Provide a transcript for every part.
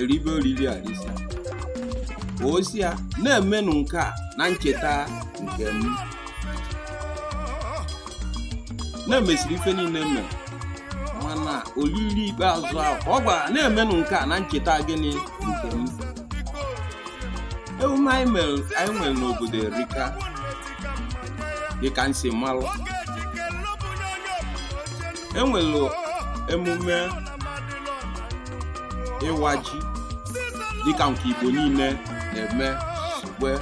eribe oriri erisịa ọ sị ya na-emenụ nke a na ncheta nke m na emesịrị ife niile mere mana oriri ikpeazụ ahụ ka ọ gwara na-emenụ nke a na ncheta gịnị nke m emume anyị mere anyị nwere n'obodo erika dịka m si malụ enwere emume ịwa ji dịka nke igbo niile na-eme wee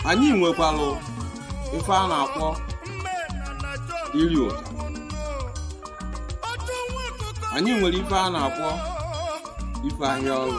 anyị nwekwara ife a na-akpọ iri ụda anyị nwere ife a na-akpọ ife ahịa ọrụ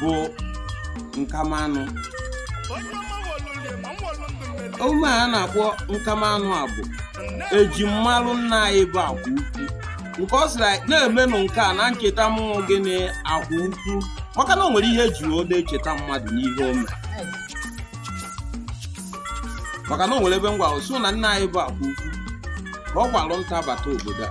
bụ nkamanụ emume a na-akpọ nkamanụ a bụ eji malụ nna anyị bụ akwa ukwu nke ọ sịrị anyị na-emenụ nke a na ncheta mụ bụ gịnị akwa ukwu maka na o nwere ihe eji wee echeta mmadụ n'ihe o mere maka na o nwere ebe m gwasị na nna anyị bụ akwa ukwu ka ọ gbalụ nta bata obodo a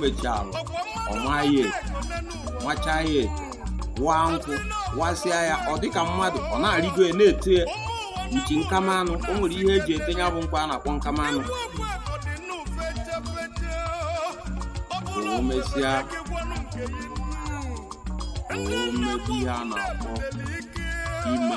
mechalụ ọmaghị nwachaa ya eto waa nkwụ wasịa ya ọ dịka mmadụ ọ na-arịgo ya na-eti ya uchi nkamanụ o nwere ihe eji eti ya bụ nkwa a na-akpọ nkamanụ o mesịa o mebi ihe a na-akpọ ime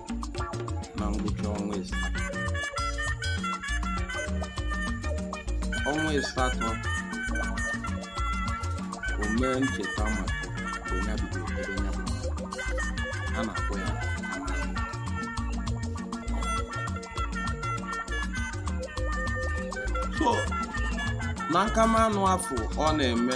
na ngwụcha ọnwa ịsatọ ọnwa ịsatọ o mee ncheta maka mgbe ya bidoro ebe ya bụ a na-akpọ ya so na nkamanụ afụ ọ na-eme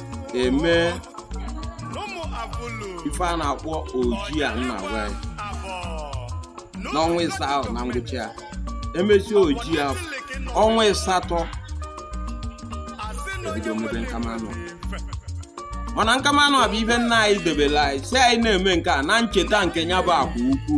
eme ife a na-akpọ oji a nna gwa ya n'ọnwa ịsaa ahụ na ngwụcha ya emechi oji ya ọnwa ịsatọ ebido mebe nkamanụ mana nkamanụ a bụ ife nna anyị debere anyị sị anyị na-eme nke a na ncheta nke ya bụ akwa ukwu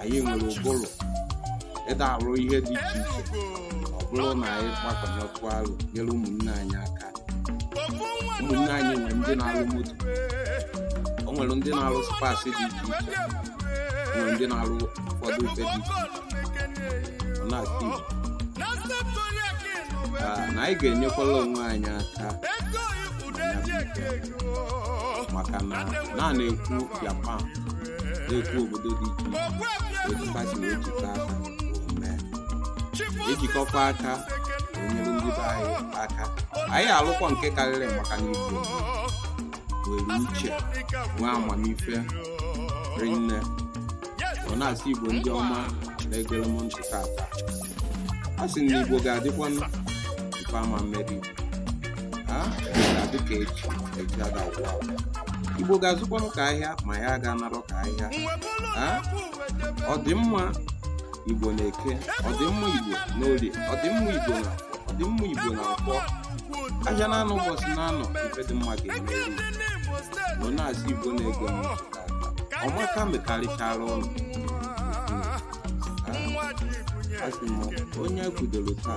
anyị nwere ụbụrụ ịda arụ ihe dị iche iche ọ bụrụ na anyị gbakọnyekwu arụ nyere ụmụnne anyị aka ụmụnne anyị nwere ndị na-arụ moto o nwere ndị na-arụ spares dị iche iche o nwere ndị na-arụ ụfọdụ ife dị iche iche ọ na-asị Igbo Ah, na anyị ga-enyekwala onwe anyị aka maka na a na-ekwu Japan na-ekwu obodo dị iche iche otu mba si wee jikọ aka wee mee ejikọkwa aka wee nyere ndị be anyị aka anyị alụkwa nke karịrị maka na igbo nwere uche nwee amamife rinne ọ na-asị igbo ndị ọma na-egere m ntị tata a sị na igbo ga-adịkwa ife ọma mere ha ga-adị ka echi echi ada agwụ agwụ. igbo ga-azụkwanụ ka ahịa ma ha ga anarọ ka ahịa ha ọdịmma igbo na eke ọdịmma igbo na orie ọdịmma igbo na afọ ọdịmma igbo na nkwọ ahịa naanọ ụbọchị naanọ ife dị mma ga-emere igbo na-asị igbo na-ege m ntị tata ọma ga-emekarịchara ụnụ Ha? asị m onye kwudoro taa